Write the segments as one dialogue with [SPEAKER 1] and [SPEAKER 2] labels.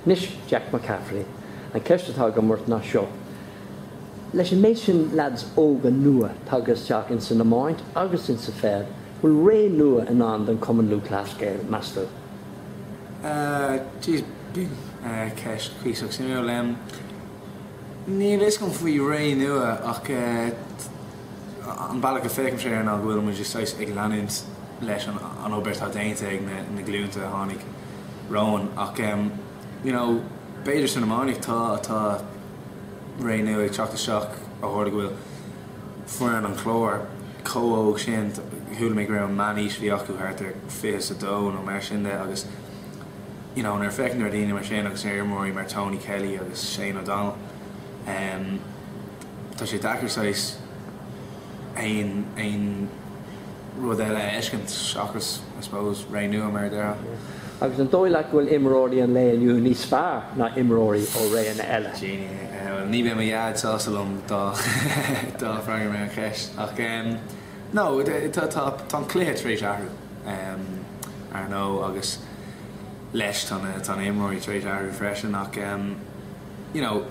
[SPEAKER 1] Anois, Jack McCaffrey, an ceist atá agam ort ná seo, leis an méid sin leads óga nua tagtha isteach ins an iomáint agus ins an pheil, bhfuil ré nua i ndán don Chumann Lúthchleas Gael, meas tú?
[SPEAKER 2] Jeez, sin ceist cuíosach suimiúil. Níl a fhios agam faoi ré nua ach An bealach a féachaimse air ná go bhfuil muid just saghas ag leanúint leis an obair atá déanta ag na glúnta a tháinig romhainn ach you know b'fhéidir san iománaíocht tá tá ré nua ag teacht isteach ó tharla go bhfuil foireann an Chláir chomh hóg sin chuala mé go raibh an meánaois a bhí acu thart ar 22 nó mar sin de agus you know nuair a féachaim ar dhaoine mar sin agus ar imreoirí mar Tony Kelly agus Shane O'Donnell umm Tá sé deacair saghas aon aon rud eile a fheiscint seachas, I suppose, Ré Nua, mar a déarfá. Agus an dóigh
[SPEAKER 1] leat go bhfuil imreoirí an lae inniu níos fearr ná imreoirí ó réanna eile? Jeanny, Bhuel, ní bheidh
[SPEAKER 2] mo dhaid sásta liom dá dá freagraím an cheist. Ach no, tá tá tá an cluiche tar éis athrú, ar ndóigh, agus leis tá na tá na imreoirí tar éis athrú freisin. Ach, you know.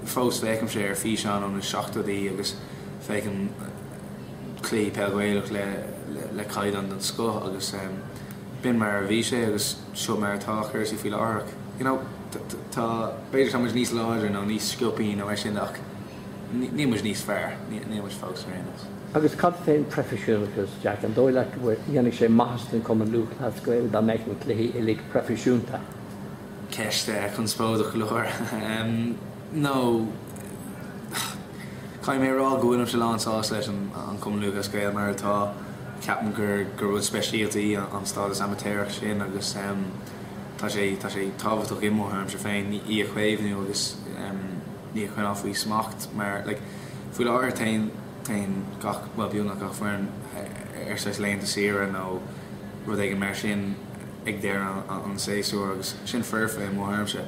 [SPEAKER 2] Fós féachaimse ar físeáin ó na seachtóidí agus féachaim cluichí peil Ghaelach le le caighdeán den scoth agus b'in mar a bhí sé agus seo mar atá cúrsaí faoi láthair. You know, tá, b'fhéidir tá muid níos láidre nó níos sciopaí nó mar sin ach níl muid níos fearr, níl muid fós ar aon nós. Agus cad fén
[SPEAKER 1] proifisiúnachas, Jack, an dóigh leat go bhfuil, ndéanfadh sé maitheas don Cumann Lúthchleas Gael dá mbeadh na cluichí uilig proifisiúnta?
[SPEAKER 2] Ceist chonspóideach go leor. No, caithfidh mé a rá go bhfuilimse lán-sásta leis an Cumann Lúthchleas Gael mar atá. Ceapann gur rud speisialta í an stádas amaitéarach sin agus tá sé tá sé tábhachtach i mo thuairimse féin í a chaomhnú agus í a choinneáil faoi smacht mar, like, faoi láthair téann gach, bhuel, beagnach gach foireann ar saghas laethanta saoire nó rud éigin mar sin. ag deireadh an tséasúir agus sin foirfe i mo thuairimse.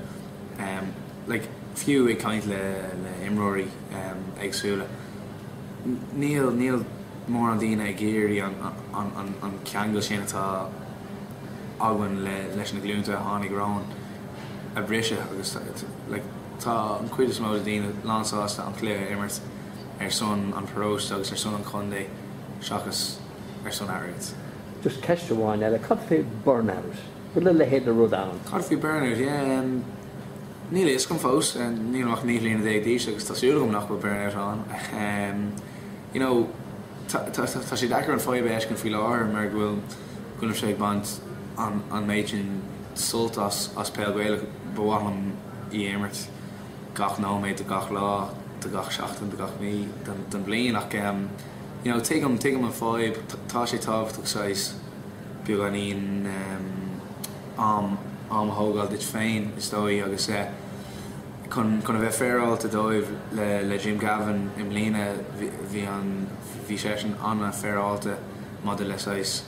[SPEAKER 2] Like, fiú ag caint le imreoirí éagsúla, níl, níl mórán daoine ag iarraidh an ceangal sin atá againn leis na glúnta a tháinig romhainn a bhriseadh agus like, tá an chuid is mó de daoine lánsásta an cluiche a imirt ar son an pharóiste agus ar son an chontae seachas ar son airgid. Just ceist
[SPEAKER 1] amháin eile, cad fé burnout? Bhfuil a leithéid de rud ann? Cad fé burnout? Ehm,
[SPEAKER 2] níl a fhios agam fós. Nílim ach naoi bhliana déag d'aois agus tá súil agam nach bhfuil burnout ann. Ehm, you know, tá, tá, tá, tá sé deacair an fadhb a fheiscint faoi láthair mar go bhfuil, go bhfuilim sé ag baint an, an méid sin sult as, as peil Gaelach. Ba mhaith liom í a imirt gach nóiméad de gach lá, de gach seachtain, de gach mí den, den bhliain ach, ehm, You know, tuigim, tuigim an fadhb, tá sé tábhachtach saghas beagáinín, am, am a thógáil duit féin, is dóigh, agus eh, chun, chun a bheith féaráilte dóibh, le, le Jim Gavin i mbliana, bhí, bhí an, bhí seisean an-fhéaráilte maidir le saghas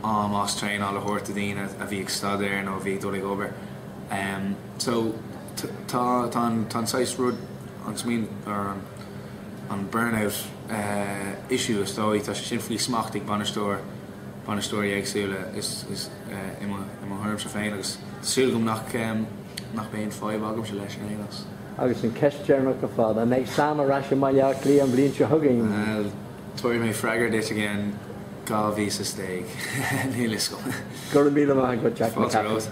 [SPEAKER 2] am as traenáil a thabhairt do dhaoine a bhí ag staidéar nó a bhí ag dul ag obair. Em, so, tá, tá an, tá an saghas rud, an smaoineamh, or an. an burnout issue is dóigh, tá sé sin faoi smacht ag bainisteoir, bainisteoirí éagsúla is i mo thuairimse féin agus tá súil agam nach nach mbeidh aon fadhb agamsa leis in aon chás. Agus an
[SPEAKER 1] ceist deireanach ar fad, an mbeidh Sam ar ais i mBaile Átha Cliath an bhliain seo chugainn? Bhuel, tabharfaidh
[SPEAKER 2] mé freagra duit i gceann dhá mhí
[SPEAKER 1] is
[SPEAKER 2] a dó dhéag, níl a fhios
[SPEAKER 1] agam.
[SPEAKER 2] Go raibh míle
[SPEAKER 1] maith
[SPEAKER 2] agat Jack McCaffrey.